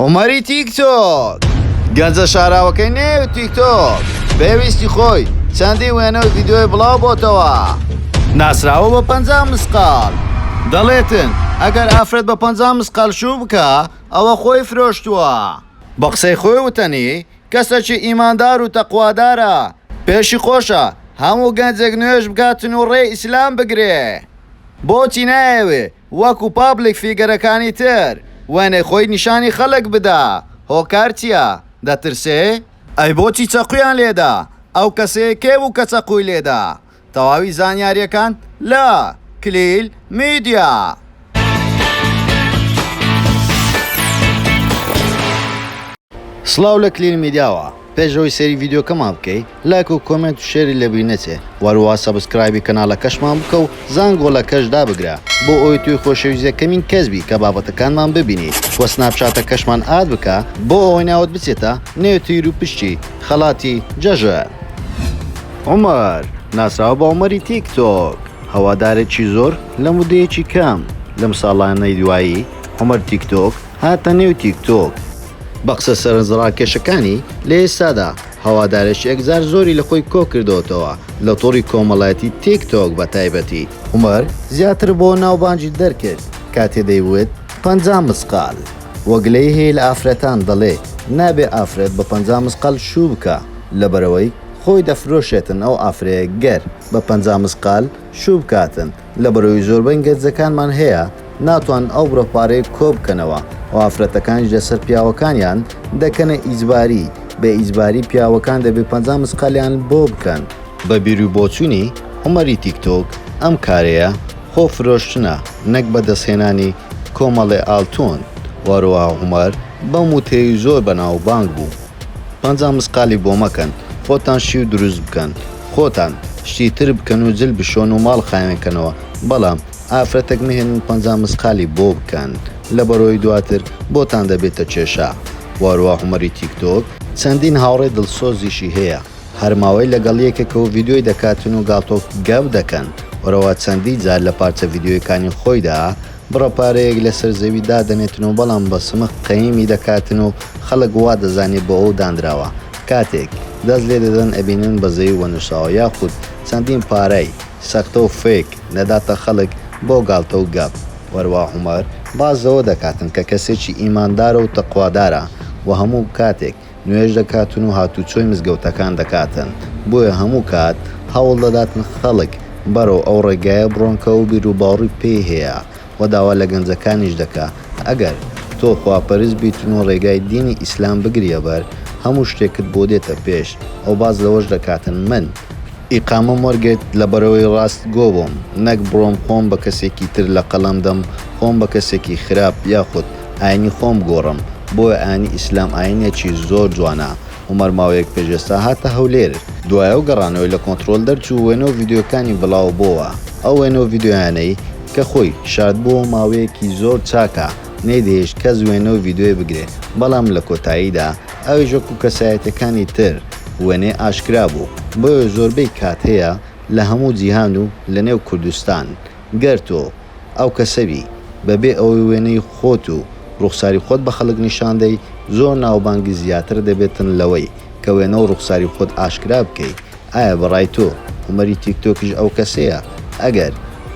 عومەری تیک تۆک گەنجە شاراوەکەی نێو تیک تۆک پێویستی خۆی چەندی وێنە و ڤیدیۆی بڵاو بۆتەوە ناسراوە بە پەنجا مسقال دەڵێتن ئەگەر ئافرەت بە پەنجا مسقال شوو بکا ئەوە خۆی فرۆشتووە بە قسەی خۆی وتەنی کەسەکی ئیماندار و تەقوادارە پێشی خۆشە هەموو گەنجێک نوێژ بکاتن و ڕێی ئیسلام بگرێ بۆچی نایەوێ وەکو پابلیک فیگەرەکانی تر وێنەی خۆی نیشانی خەلک بدا هۆکار چیە دەترسێ؟ ئەی بۆچی چەقویان لێدا ئەو کەسەیە کێ بوو کە چەقوی لێدا تەواوی زانیاریەکان لە، کلیل میدیا. سڵاو لە کلیل میدیاوە. پێش ئەوەی سەیری ڤیدیۆکەمان بکەی لایک و کۆمێنت و شێری لەبیر نەچێ وەروەها سەبسکرایبی کەناڵەکەشمان بکە و زانگۆڵەکەش دابگرە بۆ ئەوەی تۆی خۆشەویست یەکەمین کەس بی کە بابەتەکانمان ببینیت وە سناپچاتەکەشمان ئاد بکە بۆ ئەوەی ناوت بچێتە نێو تیر و پشکی خەڵاتی جەژن. عومەر، ناسراوە بە عومەری تیک تۆک، هەوادارێکی زۆر لە مودەیەکی کەم، لەم ساڵانەی دوایی، عومەر تیک تۆک، هاتە نێو تیک تۆک. بە قسە سەرنجڕاکێشەکانی، لە ئێستادا هەوادارێکی ئەکزار زۆری لە خۆی کۆ کردۆتەوە لە تۆڕی کۆمەڵایەتی تیک تۆک بە تایبەتی. عومەر زیاتر بۆ ناوبانگی دەرکرد کاتێ دەیوت پەنجا مسقال. وە گلەی هەیە لە ئافرەتان دەڵێ نابێ ئافرەت بە پەنجا مسقال شوو بکا لەبەرئەوەی خۆی دەفرۆشێتن ئەو ئافرەیە گەر بە پەنجا مسقال شوو بکاتن لەبەرەوەی زۆربەی گەنجەکانمان هەیە ناتوانن ئەو بڕە پارەیە کۆ بکەنەوە و ئافرەتەکانیش لەسەر پیاوەکانیان دەکەنە ئیجباری، بە ئیجباری پیاوەکان دەبێ پەنجا مسقالیان بۆ بکەن. بە بیرو بۆچونی عومەری تیک تۆک ئەم کارەیە خۆ فرۆشتنە نەک بە دەست هێنانی کۆمەڵێ ئالتون، وەروەها عومەر بەم وتەیەی زۆر بەناو بانگ بوو. پەنجا مسقالی بۆ مەکەن خۆتان شیو دروست بکەن خۆتان شتی تر بکەن و جل بشۆن و ماڵ خاوێن کەنەوە بەڵام ئافرەتەک مەهێنن پەنجا مسقالی بۆ بکەن لەبەرۆی دواتر بۆتان دەبێتە کێشە واروا هومەری تیک تۆک چەندین هاوڕێ دڵسۆزیشی هەیە هەر ماوەی لەگەڵ یەکێکەوە ڤیدیۆی دەکاتن و گاڵتۆ گەپ دەکەن وەرەوا چەندی جار لە پارچە ڤیدیۆیەکانی خۆیدا بڕە پارەیەک لەسەر زەوی دادەنێتن و بەڵام بە سمق قەیمی دەکاتن و خەڵک وا دەزانێ بۆ ئەو دانراوە، کاتێک دەست لێ دەدەن ئەبینن بە زەوی وەنووساوە یاخود چەندین پارەی، سەختە و فێک، دەداتە خەڵک بۆ گاڵتە و گەپ. وەروا عومەر باس لەوە دەکاتن کە کەسێکی ئیماندارە و تەقوادارە و هەموو کاتێک نوێژ دەکاتن و هاتووچۆی مزگەوتەکان دەکاتن، بۆیە هەموو کات هەوڵ دەداتن خەڵک بەرەو ئەو ڕێگایە بڕۆن کە ئەو بیروباوڕی پێی هەیە و داوا لە گەنجەکانیش دەکا ئەگەر تۆ خواپەرست بیتن و ڕێگای دینی ئیسلام بگریە بەر هەموو شتێکت بۆ دێتە پێش و باس لەوەش دەکاتن من ئیقامەم وەرگرت لە بەرەوەی ڕاست گۆ بۆم نەک بڕۆم خۆم بە کەسێکی تر لەقەڵەم دەم خۆم بە کەسێکی خراپ یاخود. ئاینی خۆم گۆڕم بۆ ئاینی ئیسلام ئاینێکی زۆر جوانە عومەر ماوەیەک پێش ئێستا هاتە هەولێر دوایە و گەڕانەوەی لە کۆنتڕۆل دەرچوو وێنە و ڤیدیۆکانی بڵاوە بۆوە ئەو وێنە و ڤیدیۆیانەی کە خۆی شاردبۆوە ماوەیەکی زۆر چاکە نەیدەهێشت کەس وێنە و ڤیدیۆی بگرێ بەڵام لە کۆتاییدا ئەویش وەکو کەسایەتیەکانی تر وێنەی ئاشکرا بوو بۆیە زۆربەی کات هەیە لە هەموو جیهان و لە نێو کوردستان گەر تۆ ئەو کەسە بی بە بێ ئەوەی وێنەی خۆت و ڕوخساری خۆت بە خەڵک نیشان دەی زۆر ناوبانگی زیاتر دەبێتن لەوەی کە وێنە و ڕوخساری خۆت ئاشکرا بکەی ئایا بە ڕای تۆ عومەری تیک تۆکیش ئەو کەسەیە ئەگەر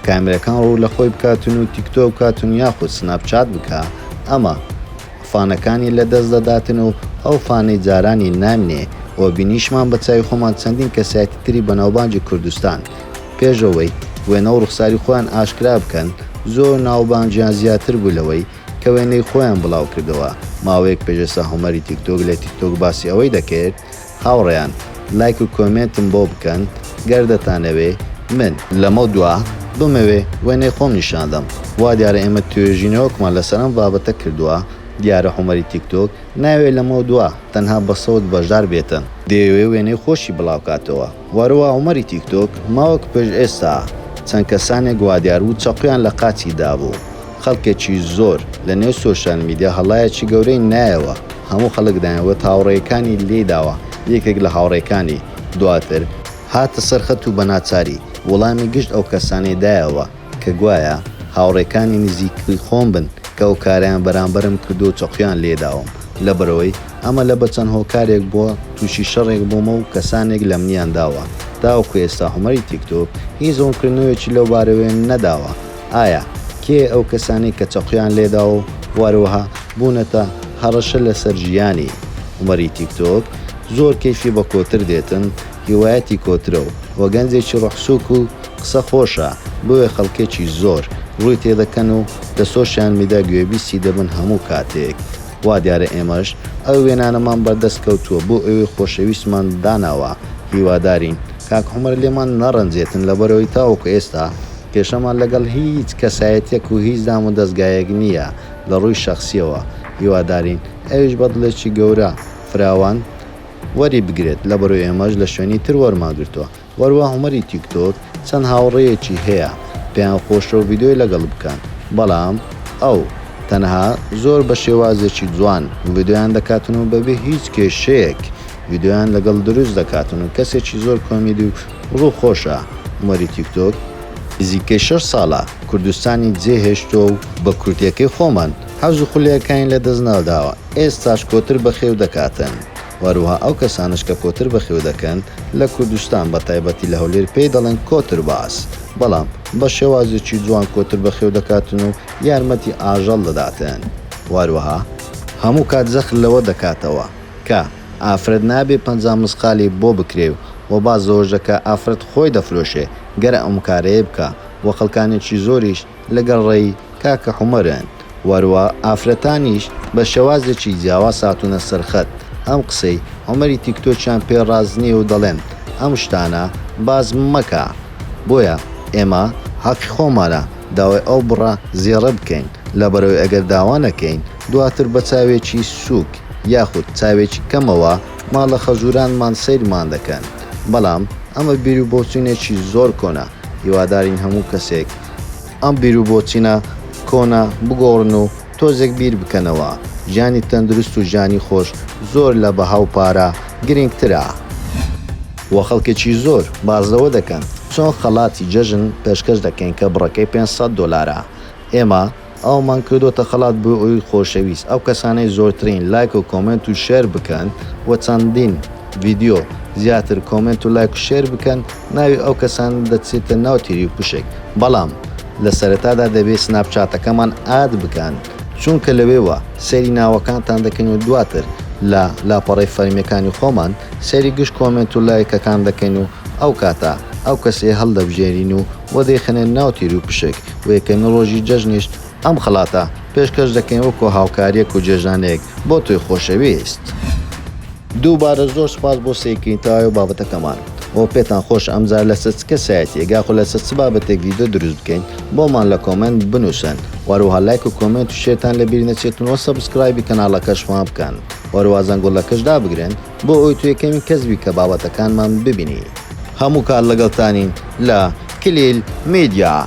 کامێرەکان ڕوو لە خۆی بکاتن و تیک تۆک بکاتن یاخود سناپ چات بکا ئەمە فانەکانی لە دەست دەداتن و ئەو فانەی جارانی نامینێ وە بینیشمان بە چاوی خۆمان چەندین کەسایەتی تری بەناوبانگی کوردستان پێش ئەوەی وێنە و ڕوخساری خۆیان ئاشکرا بکەن، زۆر ناوبانگیان زیاتر بوو لەوەی کە وێنەی خۆیان بڵاو کردەوە، ماوەیەک پێش ئێستا هۆمەری تیکتۆک لە تیکتۆک باسی ئەوەی دەکرد، هاوڕێیان لایک و کۆمێنتم بۆ بکەن گەر دەتانەوێ من. لەمەودوا بمەوێ وێنەی خۆم نیشان دەم. وا دیارە ئێمە توێژینەوەکمان لەسەر ئەم بابەتە کردووە، دیارە هۆمەری تیکتۆک نایەوێ لەمەودوا تەنها بە سەوت بەشدار بێتن، دەیەوێ وێنەی خۆشی بڵاو کاتەوە. وەروا عومەری تیکتۆک ماوەک پێش ئێستا چەند کەسانێک وادیاربوو چەقۆیان لە قاچی دابوو خەڵکێکی زۆر لە نێو سۆشیال میدیا هەڵایەکی گەورەی نایەوە هەموو خەڵک دایانوت هاوڕێیەکانی لێی داوە یەکێک لە هاوڕێکانی دواتر هاتە سەر خەت و بەناچاری وڵامی گشت ئەو کەسانەی دایەوە کە گوایە هاوڕێکانی نزیکی خۆم بن کە ئەو کارەیان بەرامبەرم کردووە و چەقۆیان لێداوم، لەبەرئەوەی ئەمە لە بە چەند هۆکارێک بووە تووشی شەڕێک بوومە و کەسانێک لەمنیان داوە، تاوەکو ئێستا هۆمەری تیکتۆک هیچ ڕوونکردنەوەیەکی لەو بارەوە نەداوە، ئایا کێ ئەو کەسانەی کە چەقۆیان لێداوە و وەروەها بوونەتە هەڕەشە لەسەر ژیانی؟ هۆمەری تیکتۆک زۆر کەیفی بە کۆتر دێتن هیوایەتی کۆترە و وە گەنجێکی ڕۆحسووک و قسە خۆشە بۆیە خەڵکێکی زۆر ڕووی تێدەکەن و لە سۆشیال میدا گوێبیستی دەبن هەموو کاتێک وا دیارە ئێمەش ئەو وێنانەمان بەردەست کەوتووە بۆ ئێوەی خۆشەویستمان داناوە هیوادارین کاک عومەر لێمان نەڕەنجێتن لەبەرئەوەی تاوەکو ئێستا کێشەمان لەگەڵ هیچ کەسایەتیەک و هیچ دام و دەزگایەک نییە لە ڕووی شەخسیەوە هیوادارین ئەویش بە دڵێکی گەورە فراوان وەری بگرێت لەبەرو ئێمەش لە شوێنی تر وەرمان گرتوە وەروە هومەری تیک تۆک چەند هاوڕێیەکی هەیە پێیان خۆشە ڤیدۆی لەگەڵ بکەن بەڵام ئەو تەنها زۆر بە شێوازێکی جوان ڤیدۆیان دەکاتن و بەبێ هیچ کێشەیەک ڤیدۆیان لەگەڵ دروست دەکاتن و کەسێکی زۆر کۆمیدی و ڕوو خۆشە هومەری تیک تۆک نزیکەی شەش ساڵە کوردستانی جێ هێشتوە و بە کوردیەکەی خۆمان حەز و خولێکەکانی لە دەست ناداوە، ئێستاش کۆتر بەخێو دەکاتن، وەروها ئەو کەسانەش کە کۆتر بەخێو دەکەن لە کوردستان بە تایبەتی لە هەولێر پێی دەڵێن کۆتر باز، بەڵام بە شێوازێکی جوان کۆتر بەخێو دەکاتن و یارمەتی ئاژەڵ دەداتن، وەروها. هەموو کات زەخر لەوە دەکاتەوە کە ئافرەت نابێ پەنجا مسقالی بۆ بکرێ و باس لەوەش دەکا ئافرەت خۆی دەفرۆشێ گەر ئەم کارەیە بکا و خەڵکانێکی زۆریش، لەگەڵ ڕێی کاکە حومەرن وەروا ئافرەتانیش بە شێوازێکی جیاواز هاتوونە سەر خەت ئەم قسەی عومەری تیکتۆکیان پێ ڕاست نیە و دەڵێن ئەم شتانە باس مەکە بۆیە ئێمە حەقی خۆمانە داوای ئەو بڕە زێڕە بکەین لەبەرئەوەی ئەگەر داوا نەکەین دواتر بە چاوێکی سووک یاخود چاوێکی کەمەوە ماڵە خەزورانمان سەیرمان دەکەن بەڵام ئەمە بیرو بۆچوونێکی زۆر کۆنە هیوادارین هەموو کەسێک ئەم بیرو بۆچونە کۆنە بگۆڕن و تۆزێک بیر بکەنەوە، ژیانی تەندروست و ژیانی خۆش زۆر لە بەها و پارە گرینگ ترە. وە خەڵکێکی زۆر باس لەوە دەکەن چۆن خەڵاتی جەژن پێشکەش دەکەین کە بڕەکەی پێنج سەد دۆلارە ئێمە. ئەوەمان کردۆتە خەڵات بۆ ئەوی خۆشەویست ئەو کەسانەی زۆرترین لایک و کۆمێنت و شێر بکەن و چەندین ڤیدیۆ زیاتر کۆمێنت و لایک و شێر بکەن ناوی ئەو کەسانە دەچێتە ناو تیریوپشک بەڵام لە سەرەتادا دەبێت سناپ چاتەکەمان ئاد بکەن چونکە لەوێوە سەیری ناوەکانتان دەکەین و دواتر لە لاپەڕەی فەرمیەکانی خۆمان سەیری گشت کۆمێنت و لایکەکان دەکەین و ئەو کاتە ئەو کەسەیە هەڵدەبژێرین و وەدەیخەنە ناو تیریوپشک و یەکەمین ڕۆژی جەژنیش ئەم خەڵاتە پێشکەش دەکەین وەکو هاوکاریەک و جێژنانێک بۆ تۆی خۆشەویست. دووبارە زۆر سوپاس بۆ سەیرکردنی تەواوی بابەتەکەمان و پێتان خۆشە ئەمجار لەسەر چ کەسایەتیەک یاخود لەسەر چ بابەتێک ڤیدیۆ دروست بکەین بۆمان لە کۆمێنت بنوسن و هەروەها لایک و کۆمێنت و شێرتان لەبیر نەچێتن و سەبسکرایبی کەناڵەکەشمان بکەن و هەروەها زەنگوڵەکەش دابگرن بۆ ئەوەی تۆ یەکەمین کەس بی کە بابەتەکانمان ببینی. هەموو کات لەگەڵتانین لە کلیل میدیا.